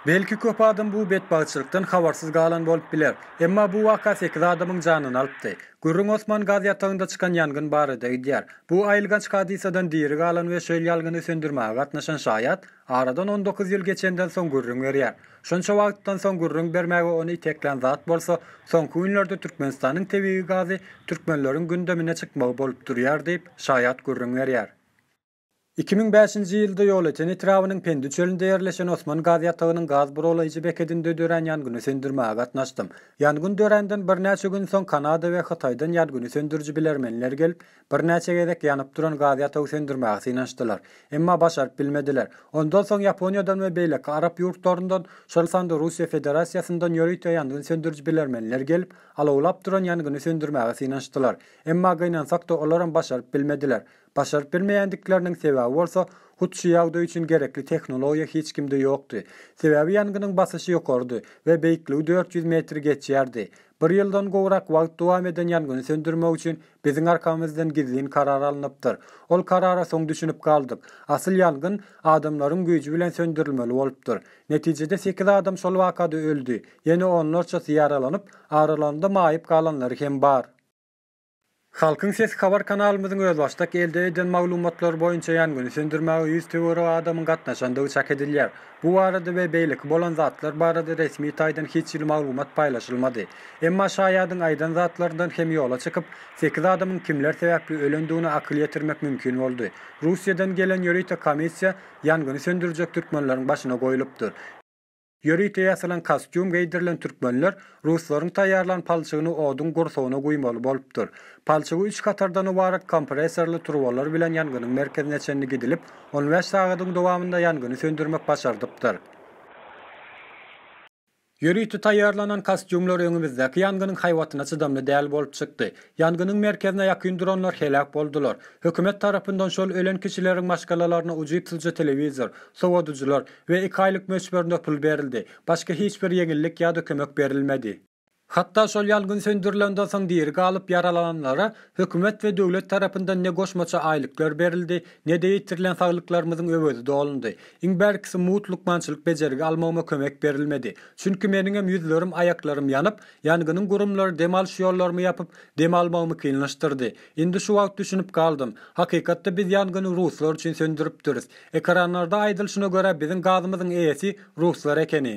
Belki köp adam bu betbagtçylykdan habarsyz galan bolup biler. Emma bu waka sekiz adamyň janyny alypdy. Gürrüň Osman gaz ýatagynda çykan ýangyn barada gidýär. Bu aýylganç hadysadan diri galan we şöl ýalgyny söndürmäge gatnaşan şaýat aradan on dokuz ýyl geçenden soň gürrüň berýär. Şonça wagtdan soň gürrüň bermäge ony iteklän zat bolsa, soňky günlerde Türkmenistanyň tebigy gazy türkmenleriň gündemine çykmagy bolup durýar diýip, şaýat gürrüň berýär. Iki müň bäşinji ýylda Ýolöten etrabynyň Pendi çölünde ýerleşen Osman gaz ýatagynyň gaz buralaýjy bekedinde dörän ýangyny söndürmäge gatnaşdym. Ýangyn döränden birnäçe gün soň Kanada we Hytaýdan ýangyn söndüriji bilermenler gelip, Birnäçe gezek ýanyp duran gaz ýatagy söndürmäge synanyşdylar. Emma başaryp bilmediler. Ondan soň Ýaponiýadan we beýleki arap ýurtlaryndan, şol sanda Russiýa Federasiýasyndan ýörite ýangyn söndüriji bilermenler gelip, alawlap duran ýangyny söndürmäge synanyşdylar. Emma gynansak-da olaram başaryp bilmediler. Başaryp bilmeýändikleriniň sebäbi bolsa, hut şu ýagdaý üçin gerekli tehnologiýa hiç kimde ýokdy. Sebäbi ýangynyň basyşy ýokarydy we beýikligi dört ýüz metri geçýärdi. Bir ýyldan gowrak wagt dowam eden ýangyn söndürmek üçin biziň arkamyzdan gizlin karar alnypdyr. Ol karara soň düşünip galdyk. Asyl ýangyn adamlaryň güýji bilen söndürilmeli bolupdyr. Netijede sekiz adam şol wakada öldi, ýene onlarçasy ýaralanyp, aralanda maýyp galanlary hem bar. Halkyň sesi habar kanalymyzyň özbaşdak elde eden maglumatlary boýunça ýangyn söndürmäge ýüz töweregi adamyň gatnaşandygy çak edilýär. Bu barada we beýleki bolan zatlar barada resmi taýdan hiç hili maglumat paýlaşylmady. Emma şaýadyň aýdan zatlaryndan hem ýola çykyp, sekiz adamyň kimler sebäpli ölendigine akyl ýetirmek mümkin boldy. Russiýadan gelen ýörite komissiýa ýangyny söndürjek türkmenleriň başyna goýlupdyr. Ýörite ýasalan kostýum geýdirilen türkmenler ruslaryň taýýarlan palçygyny oduň gursagyna guýmaly bolupdyr. Palçygy üç hatardan ybarat kompressorly turbalar bilen ýangynyň merkezine çenli gidilip, on bäş sagadyň dowamynda ýangyny söndürmek başardypdyr. Ýörite taýýarlanan kostýumlar öňümizdäki ýangynyň haýbatyna çydamly däl bolup çykdy. Ýangynyň merkezine ýakyn duranlar heläk boldular. Hökümet tarapyndan şol ölen kişileriň maşgalalaryna ujypsyzja telewizor, sowadyjylar, we iki aýlyk möçberinde pul berildi. Başga hiç bir ýeňillik ýa-da kömek berilmedi. Hatda şol ýangyn söndürilenden soň diri galyp ýaralananlara hökümet we döwlet tarapyndan ne goşmaça aýlyklar berildi, ne-de ýitirilen saglyklarymyzyň öwezi dolundy. Iň bärkisi mugt lukmançylyk bejergi almagyma kömek berilmedi. Çünki meniňem ýüzlerim, aýaklarym ýanyp, ýangynyň gurumlary dem alyş ýollarymy ýapyp, dem almagymy kynlaşdyrdy. Indi şu wagt düşünip galdym. Hakykatda biz ýangyn ruslar üçin söndüripdiris. Ekranlarda aýdylyşyna görä biziň gazymyzyň eýesi ruslar ekeni.